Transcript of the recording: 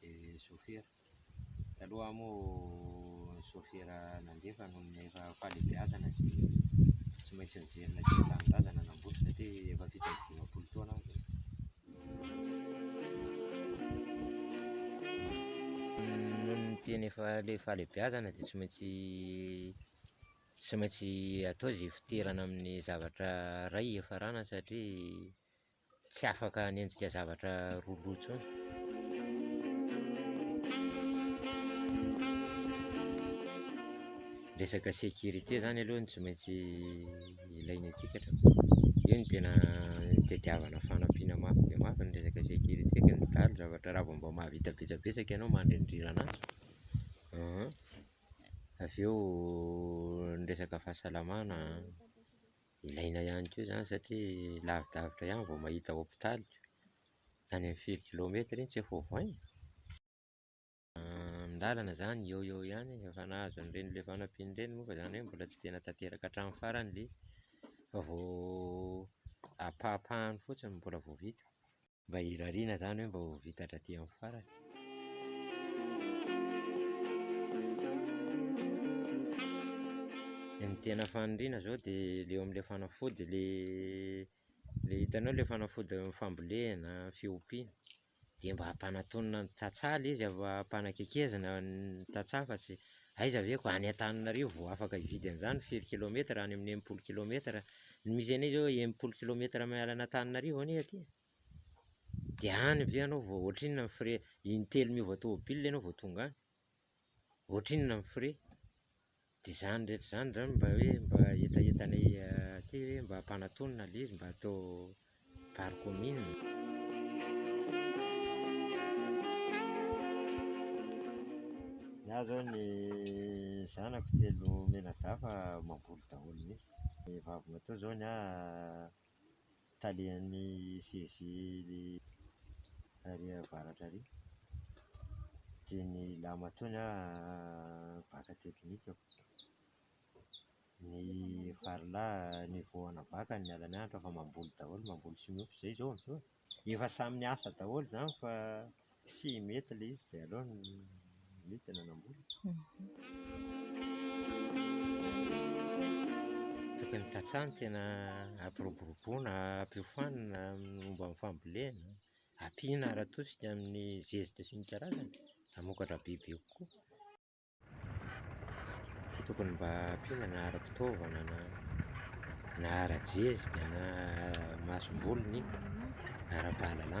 dia sôfera. Taloha moa ny sôfera nandefa no efa fahalehibeazana sy tsy maintsy niverina teo amin'ny tanindrazana nambotry satria efa fito amby dimampolo taona aho izay. Noho ny tena efa ilay fahalehibeazana dia tsy maintsy tsy maintsy atao izay fitoerana amin'ny zavatra iray hiafarana satria Tsy afaka hanenjika zavatra roa loha intsony. Resaka sécurité zany aloha no tsy maintsy ilaina aty ka hatrany. Io no tena tadiavana fanampiana mafy dia mafy ny resaka sécurité ka ny daly zavatra raha vao mba mahavita betsabetsaka ianao mandrindrira an'azy an, avy eo ny resaka fahasalamana an. Ilaina ihany koa izany satria lavidavitra ihany vao mahita hopitaly ka, any amin'ny firy kilometatra iny tsy efa ovaina? Ny lalana izany eo eo ihany e, efa nahazo an'ireny ilay fanampiana ireny moa fa izany hoe mbola tsy tena tanteraka hatramin'ny farany ilay izy fa vao ampahapahany fotsiny mbola vao vita. Mba hirariana izany hoe mba ho vita hatraty amin'ny farany. Dia ny tena faniriana izao dia ilay eo amin'ilay fanafody ilay ilay hitanao ilay fanafody fambolena, fiompiana, dia mba hampanatonina ny tantsaha ilay izy, hampanakaikezina ny tantsaha fa tsy Aiza ve ko any Antananarivo vao afaka hividy an'izany, firy kilometera, any amin'ny enimpolo kilometera, ny misy anay izao enimpolo kilometera miala an'Antananarivo anie aty e, de any ve ianao vao ohatrinona ny frais, intelo miova tômôbila ianao vao tonga any, ohatrinona ny frais, de zany rehetra zany zany mba hoe mba hetahetanay aty hoe mba ampanatonina ilay izy mba atao Gare commune. Ny ahy izao ny zanako telo mianadahy mamboly daholo mihintsy. Ny vaviny atoa izao ny ahy talehan'ny CEG ary avaratra ary. Dia ny ilany atoa ny ahy mpaka teknika. ny varilahy ny vao hanavaka ny alany hanitra fa mamboly daholo mamboly sy miompy izay izao amin'izao e! efa samy niasa daholo izany fa tsy mety ilay izy dia aleo ny mety no hanambola tokony tantsaha ny tena hampiroboroboana hampiofanina amin'ny momba ny fambolena ampiana ara-tosika amin'ny zezika sy ny karazany hamokatra bebe kokoa Tokony mba ampiana na ara-pitaovana na na ara-jezika na masomboly ny ara-pahalalana.